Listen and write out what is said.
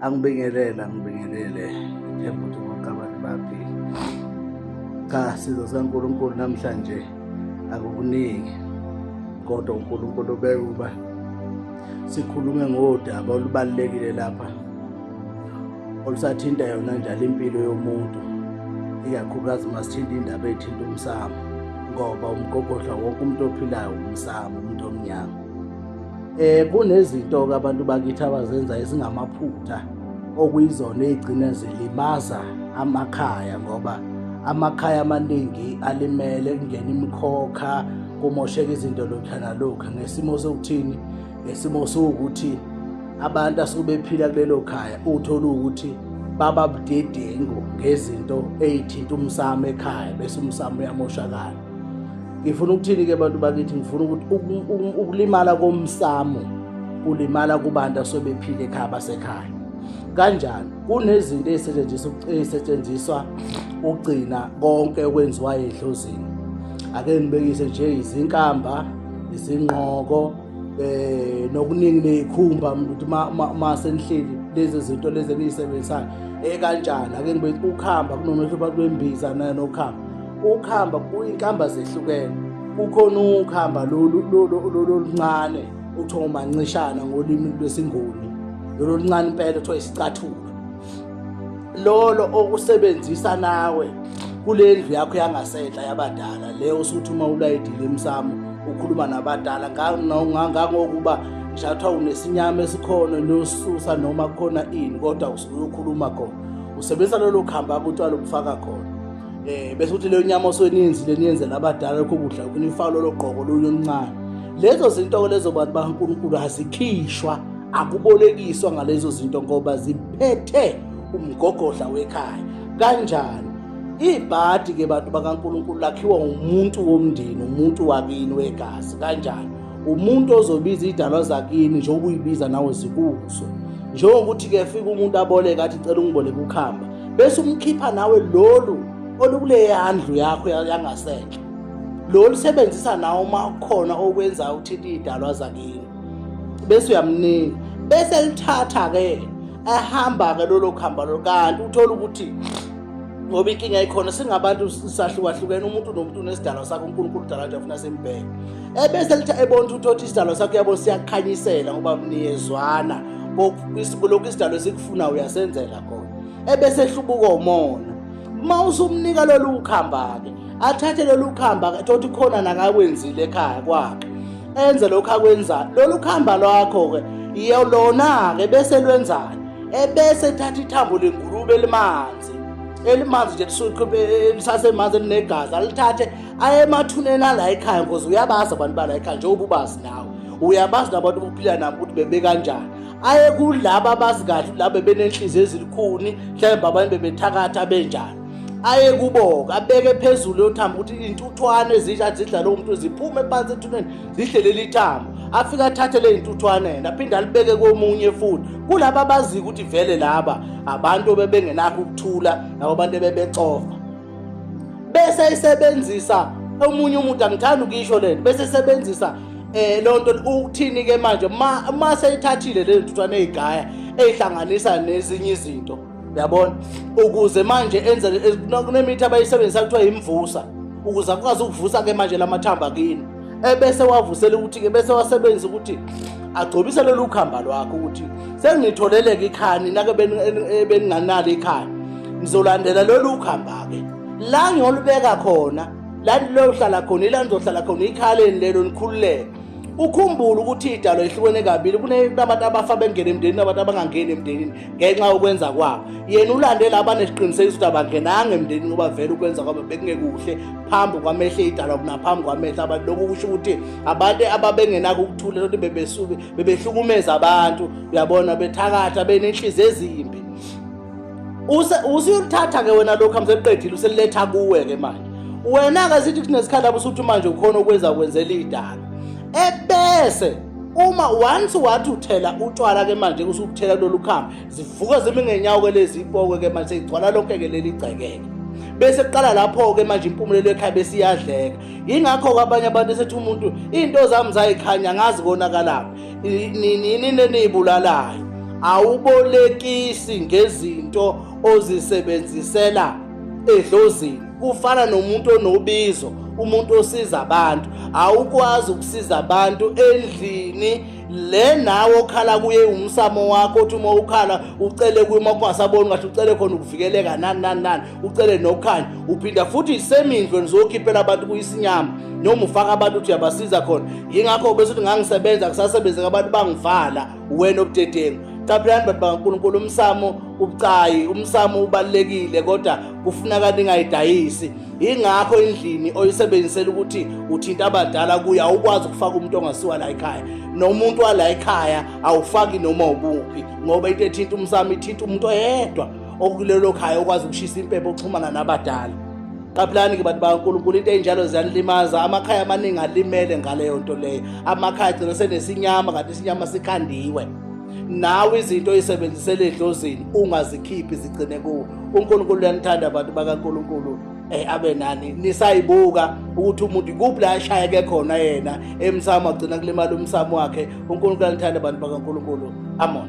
angibingelele angibingelele themba ukuthi ngoqabane baphi cha sizo sikankulunkulu namhlanje akukuningi kodwa unkulunkulu ubeke ukuba sikhulume ngodaba olubalulekile lapha olusathinta yona njalo impilo yomuntu ikakhulukazi uma sithinta indaba ethinta umsamo ngoba umgogodla wonke umuntu ophilayo umsamo umuntu omnyama Eh kunezinto ke abantu bakithi abazenza ezingamaphutha okuyizona ezigcina zilimaza amakhaya ngoba amakhaya amaningi alimele kungena imikhokha kumosheka izinto lokhu nalokhu ngesimo sokuthini ngesimo sokuthi abantu asubephila kulelo khaya uthola ukuthi baba budedengu ngezinto ezithinta umsamo ekhaya bese umsamo uyamoshakala ngifuna ukuthini ke bantu bakithi ngifuna ukuthi ukulimala komsamo kulimala kubantu asobephile ekhaya basekhaya kanjani kunezinto ezisetshenziswa ezisetshenziswa ukugcina konke okwenziwa edlozini ake ngibekise nje izinkamba izinqoko eh nokuningi nezikhumba ukuthi uma senihleli lezi zinto lezi eniyisebenzisayo ekanjani ake ngibe ukuhamba kunomehlo phakathi kwembiza nokuhamba Ukuhamba kuyinkamba zehlukene. Kukhona ukuhamba lolu oluncane okuthiwa umancishana ngolimi lwesiNguni. Lolu oluncane impela kuthiwa isicathulo. Lolo okusebenzisa nawe kule ndlu yakho yangasenhla yabadala le osuthi uma ulayidile emsamo ukhuluma nabadala ngangokuba ngishathiwa unesinyama esikhona nosusa noma kukhona ini kodwa usuke uyokhuluma khona usebenzisa lolo khamba kuthiwa lokufaka khona eh bese uthi le nyama oseniyenzi leniyenzela abadala lokho kudla kunifaka lolo gqoko lolu omncane lezo zinto-ke lezo bantu bakankulunkulu azikhishwa akubolekiswa ngalezo zinto ngoba ziphethe umgogodla wekhaya kanjani ibhadi ke bantu bakaNkuluNkulu lakhiwa umuntu womndeni umuntu wakini wegazi kanjani umuntu ozobiza idalwa zakini njengoba uyibiza nawe zikuzo njengokuthi ke fika umuntu aboleka athi cela ungiboleke ukhamba bese umkhipha nawe lolu olukuleya ndlu yakho yangasenhle lolu sebenzisa nawe uma khona okwenza uthinte idalwa zakini bese uyamnika bese lithatha ke ehamba ke lolo khamba lo kanti uthola ukuthi ngoba inkinga ikhona singabantu sahlukahlukene umuntu nomuntu unesidalwa sakhe unkulunkulu udala nje afuna simbheke ebese lithi ebona ukuthi uthi isidalwa sakho yabo siyakhanyisela ngoba niyezwana lokhu isidalwa esikufuna uyasenzela khona ebese ehlubuka umona uma usumnika lolu khamba-ke athathe lolu khamba-ke thothi khona nakakwenzile ekhaya kwakhe enze lokhu akwenzayo lolu khamba lwakho-ke yelona-ke bese lwenzani ebese ethatha ithambo lengulube elimanzi elimanzi nje lisasemanzi elinegazi alithathe aye emathuneni ala ekhaya ngoze uyabazi abantu bala ekhaya njengoba ubazi nawe uyabazi nabantu bokuphila nabo ukuthi bebekanjani aye kulaba abazi kahle laba benenhliziyo ezilikhuni mhlawumbe abanye bebethakatha benjani aye kuboka abeke phezulu yothamba ukuthi intuthwane ezisha zidla lowo muntu ziphume phansi ethuneni zihle leli thambo afike athathe le intuthwane yena aphinde alibeke komunye futhi kulaba abaziyo ukuthi vele laba abantu bebengenakho ukuthula nabo bantu bebecofa bese isebenzisa omunye umuntu angithanda ukuyisho lento bese isebenzisa eh lonto ukuthini ke manje uma seyithathile le ntuthwane ezigaya ezihlanganisa nezinye izinto uyabona ukuze manje enze kunemithi abayisebenzisa kuthiwa imvusa ukuze akwazi ukuvusa ke manje lamathambo akini ebese wavusela ukuthi-ke bese wasebenzisa ukuthi agcobise lolu khamba lwakho ukuthi sengitholeleka ikhaya nina-ke beninganalo ikhaya ngizolandela lolu khamba-ke la ngiyolubeka khona la lilohlala khona ila nizohlala khona ikhaleni lelo nikhululeke ukhumbule ukuthi idalo ehlukene kabili kunabantu abafa bengena emndenini nabantu abangangeni emndenini ngenxa yokwenza kwabo yena ulandela abanesiqinisekiso ukuthi abangenanga emndenini ngoba vele ukwenza kwabo bekungekuhle phambi kwamehlo idalwa kunaphambi kwamehlo abantu lokhu kusho ukuthi abantu ababengenako ukuthula lokuthi bebesuke bebehlukumeza abantu uyabona bethakatha benenhliziyo ezimbi usuyolithatha-ke wena lokhu amseqedile useliletha kuwe-ke manje wena-ke sithi kunesikhathi abusuthi manje ukhona ukwenza kwenzela idala ebese uma once wathi uthela utshwala ke manje kusukuthela lolu khamba zivuka zimi ngenyawo ke lezi ipokwe ke manje igcwala lonke ke leli gcekeke bese kuqala lapho ke manje impumulelo ekhaya besiyadleka ingakho kwabanye abantu esethi umuntu into zami zayikhanya ngazi konakalapha nini nenibulalayo awubolekisi ngezinto ozisebenzisela edlozini kufana nomuntu onobizo umuntu osiza abantu awukwazi ukusiza abantu endlini le nawe okhala kuye umsamo wakho othi uma ukhala ucele kuye uma kungasaboni ngathi ucele khona ukuvikeleka nani nani nani ucele nokukhanya uphinda futhi isemindlo nizokhiphela abantu kuyisinyama noma ufaka abantu uthi uyabasiza khona yingakho bese ukuthi ngangisebenza kusasebenze ngabantu bangivala wena obudedengu qaphelani bantu bakankulunkulu umsamo ubucayi umsamo ubalulekile kodwa kufuneka ningayidayisi ingakho endlini oyisebenzisela ukuthi uthinta abadala kuye awukwazi ukufaka umuntu ongasiwa la ekhaya nomuntu wala ekhaya awufaki noma ubuphi ngoba into ethinta umsamo ithinta umuntu oyedwa okulelo khaya okwazi ukushisa impepho oxhumana nabadala qaphulani-ke bantu bakankulunkulu into ey'njalo ziyanilimaza amakhaya amaningi alimele ngaleyo nto leyo amakhaya agcina senesinyama kanti isinyama sikhandiwe nawe izinto oyisebenzisela edlozini ungazikhiphi zigcine kuwe uNkulunkulu uyanithanda abantu bakaNkulunkulu eh abe nani nisayibuka ukuthi umuntu ikuphi la ashaya ke khona yena emsamo agcina kulimala umsamo wakhe uNkulunkulu alithanda abantu bakaNkulunkulu amen